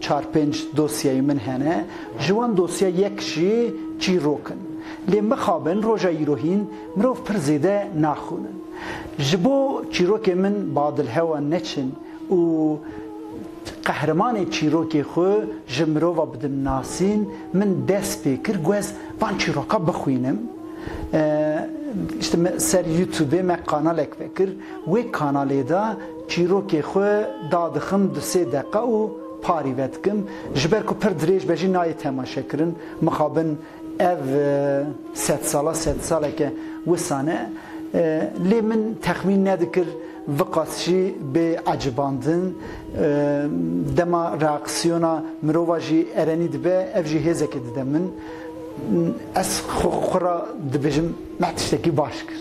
Çar pênc dosyeyê min hene, ji wan dosye yek jî çîrok in. Lê mixabin roja îro hîn mirov pir zêde naxwînin. Ji bo çîrokên min badil hewa neçin û qehremanê çîrokê xwe ji mirova bidim nasîn, min dest pê kir ku ez van çîroka bixwînim. Ser Youtubê me kanalek vekir. Wê kanalê de Çîrokê xwe dadixim du sê deqa û parî vedikim. Ji ber ku pir dirêj be jî nayê temaşekirin. Mixabin ev sedsala sedsaleke wisa ne. Lê min texmîn nedikir viqas jî bê ecibandin. Dema reaksiyona mirova jî erenî dibe ev jî hêzekê dide min. Ez xwe ra dibêjim me tiştekî baş kir.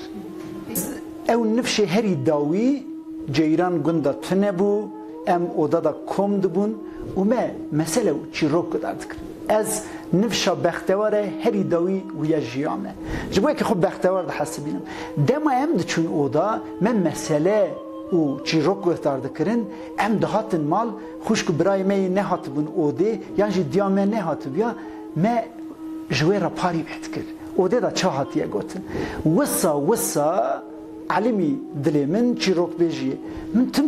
Ew nifşê herî dawî ceyran gunda tune bû, em oda da kom dibûn û me mesele û çîrok guhdar dikirin. Ez nifşa bexteware herî dawî û ya jiya me. Ji bo yekê xwe bextewar dihesibînim. Dema em diçûn oda, me mesele û çîrok guhdar dikirin, em dihatin mal, xwişk û birayê me yê nehatibûn odê yan jî diya me nehatibûya, Me ji wê re parî met kir. Odê de çi hatiye gotin? Wisa wisa Elimî dilê min çîrokbêjî ye. Min tim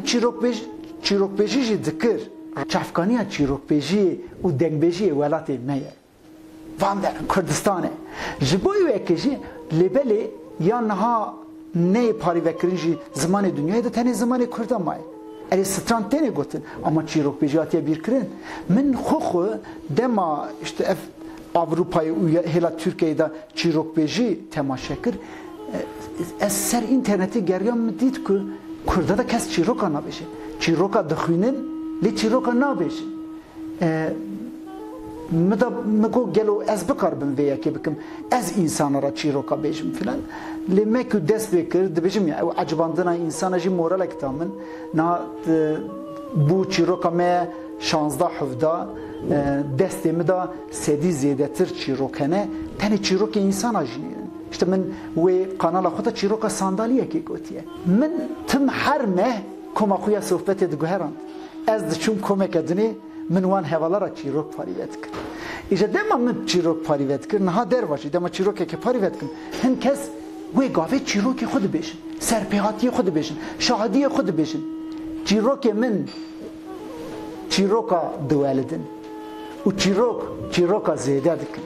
çîrokbêjî jî dikir. Çavkaniya çîrokbêjîyê û dengbêjîyê welatê me ye. Van derin Kurdistan e. Ji bo wê kejî lêbelê ya niha. Neyê parêvekirin jî zimanê dinyayê de tenê zimanê kurd de maye. Erê stran têne gotin ama çîrokbêjî hatiye bîrkirin. Min xwe xwe dema îşte ev Ewropayê û hêla Tirkiyeyê de çîrokbêjî temaşe kir, ez ser înternetê geriyam min dît ku kurda de kes çîroka nabêje. Çîroka dixwînin lê çîroka nabêjin. Min da min got gelo ez bikaribim vê yekê bikim, ez însana re çîroka bêjim filan. Lê me ku dest pê kir dibêjim ya ew ecibandina însana jî moralek da min. Niha bû çîroka me ye şazdeh hevda destê min da sedî zêdetir çîrok hene. Tenê çîrokê însana jî hene. Îşte min wê kanala xwe de çîroka sandaliyekê gotiye. Min tim her meh Koma xwe ya sohbetê diguherand. Ez diçûm komeke din ê, min wan hevala re çîrok parîve dikir. Îje dema min çîrok parîve dikir, niha der va jî dema çîrokekê parîve dikim, hin kes wê gavê çîrokê xwe dibêjin, serpêhatiyê xwe dibêjin, şahidiyê xwe dibêjin. Çîrokê min çîroka diwelidin û çîrok çîroka zêde dikin.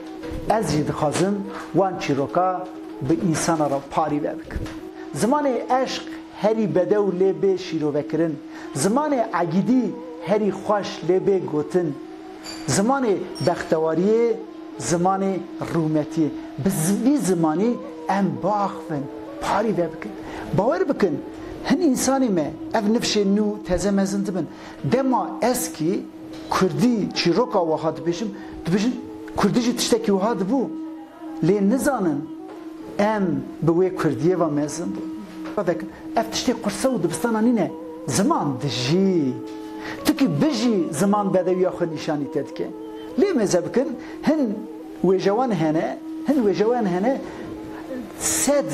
Ez jî dixwazim wan çîroka bi însana re parîve bikim. Zimanê eşq. Herî bedew lê bê şîrovekirin. Zimanê egîdî herî xweş lê bê gotin. Zimanê bextewariyê, zimanê rûmetiyê. Bi vî zimanî em biaxivin, parî vebikin. Bawer bikin, hin însanê me, ev nifşên nû teze mezin dibin. Dema ez kî kurdî, çîroka wiha dibêjim, dibêjin kurdî jî tiştekî wiha dibû. Lê nizanin em bi wê kurdiyê ve mezin bûn. Ravek, Ev tiştê qurse û dibistana nîne, ziman dijî. Tu kî bijî ziman bedewiya xwe nîşanî te dike. Lê mêze bikin hin wêjewan hene, hin wêjewan hene sed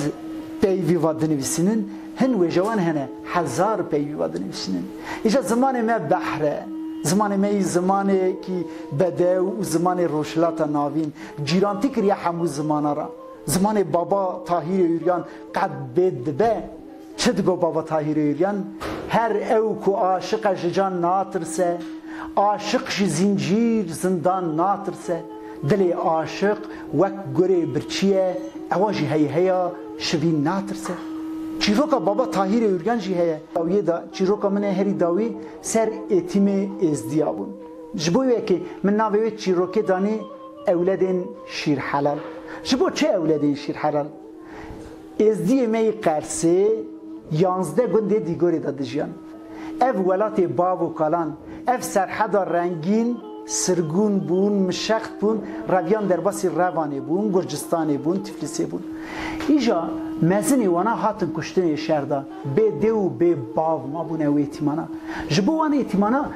peyvî ve dinivîsînin, hin wêjewan hene hezar peyvî ve dinivîsînin. Îja zimanê me behr e. Zimanê me yî zimanê kî bedew û zimanê Rojhilata Navîn, Cîrantî kiriye hemû zimana ra. Zimanê Baba Tahîrê Uryan qet bê dibe. Çi digo Baba Tahîrê Uryan? Her ew ku aşiq e ji can natirse, aşiq ji zîncîr, zindan natirse. Dilê aşiq wek gurê birçî ye, ewa ji heyheya şivîn natirse. Çîroka Baba Tahîrê Uryan jî heye. Dawiyê de çîroka min ê herî dawî ser Êtîmê Êzdî ya bûn. Ji bo wê yekê min navê wê çîrokê danî Ewledên şîrhelal Ji bo çi ewledên şîrhelal? Êzdiyê me yê Qersê yanzdeh gundê Dîgorê de dijiyan. Ev welatê bav û kalan, ev serheda rengîn, sirgûn bûn, mişext bûn, reviyan derbasî Revanê bûn, Gurcistanê bûn, Tiflisê bûn. Îja mezinê wana hatin kuştin ê şer de, bê dê û bê bav mabûne wê tîmana. Ji bo wan ê tîmana.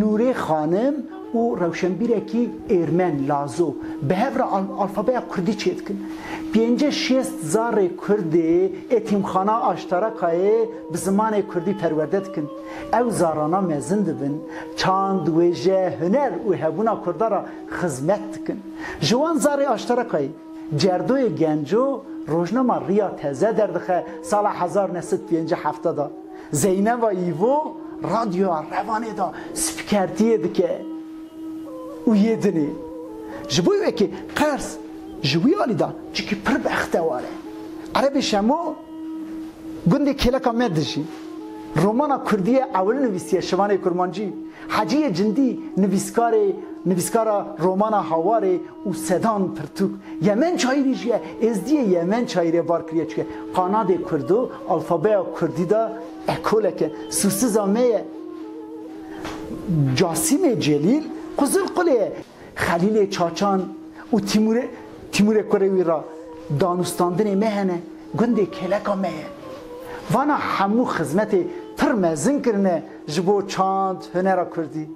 Nûrê Xanim û rewşenbîrekî êrmen, lazo, bi hev re alfabeya kurdî çêdikin. Pêncî şêst zarê kurdê etîmxana Aştarakayê bi zimanê kurdî perwerde dikin. Ew zarana mezin dibin, çand, wêje, huner û hebûna kurda re xizmet dikin. Ji wan zarê Aştarakayê, Cerdoyê Genco rojnama Riya Teze derdixe sala hezar new sed pêncî hefte de. Zeyneba Îvo Radyoya Revanê de spîkertiyê dike û yê dinê ji bo wekî qers ji wî alî da çikî pir bextewar e. Erebê Şemo gundê kêleka me dijî. Romana kurdî ye ewil nivîsiye Şivanê Kurmancî. Hecîyê Cindî nivîskarê nivîskara romana Hawarê û sedan pirtûk. Yemen çayîrî jî êzdîyê Yemen çayîrê bar kiriye çike qanadê kurdo alfabeya kurdî de ekolek e. Sûsiza me ye Casîmê Celîl Qizilqulê ye. Xelîlê Çaçan û Tîmûrê Tîmûrê kurê wî ra danûstandinê me hene. Gundê kêleka me ye. Vana hemû xizmetê pir mezin kirine. Ji bo çand hunera kurdî.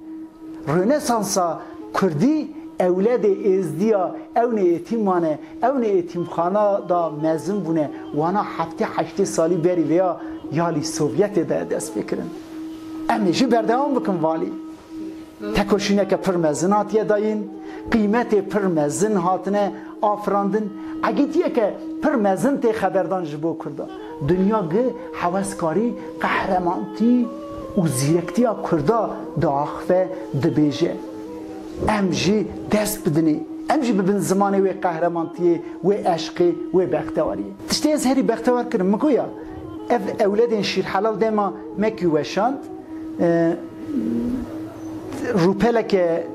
Rönesansa kurdî ewledê êzdiya ewnê êtîm mane, ewnê êtîmxana da mezin bûne, wana heftê heştê salî berî vêya ya lî Sovyetê de dest pê kirin. Em ê jî berdewam bikin valî. Tekoşîneke pir mezin hatiye dayîn, qîmetê pir mezin hatine afirandin, egîtiyeke pir mezin tê xeberdan ji bo kurdan. Dinya gi heweskarî, qehremantî û zîrektiya kurda diaxive, dibêje, Em jî dest bidinê, em jî bibin zimanê wê qehremantiyê, wê eşqê, wê bextewariyê. Tiştê ez herî bextewar kirin min ku ya, ev ewledên şîrhelal dema me kî weşand, Rûpeleke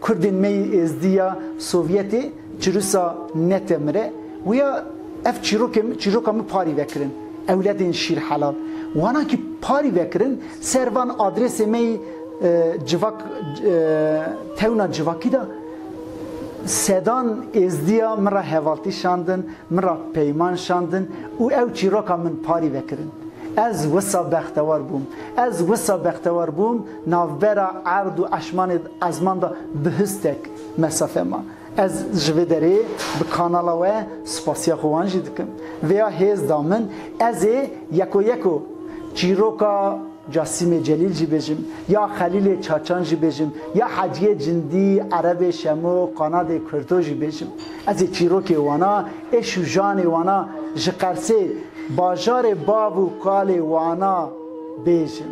Kurdên me yê Êzdî ya Sovyetê çirûsa Netemire û ya ev çîrokên çîroka min parî vekirin, ewledên şîr helal. Wana kî parî vekirin ser van adrêsê me yî civak tewna civakî de sedan Êzdî ya min re hevaltî şandin, min re peyman şandin û ew çîroka min parî vekirin. Ez wisa bextewar bûm. Ez wisa bextewar bûm navbera erd û eşmanê ezman de bi histek mesafe ma. Ez ji vê derê bi kanala we spasiya xwe wan jî dikim. Vêya hêz da min ez ê yeko yeko çîroka. Ya Sîmê Celîl jî bêjim, ya Xelîlê Çaçan jî bêjim, ya Heciyê Cindî, Erebê Şemo, Qanadê Kurto jî bêjim. Ez ê çîrokê wana, êş û janê wana, ji Qersê, bajarê bav û kalê wana bêjim.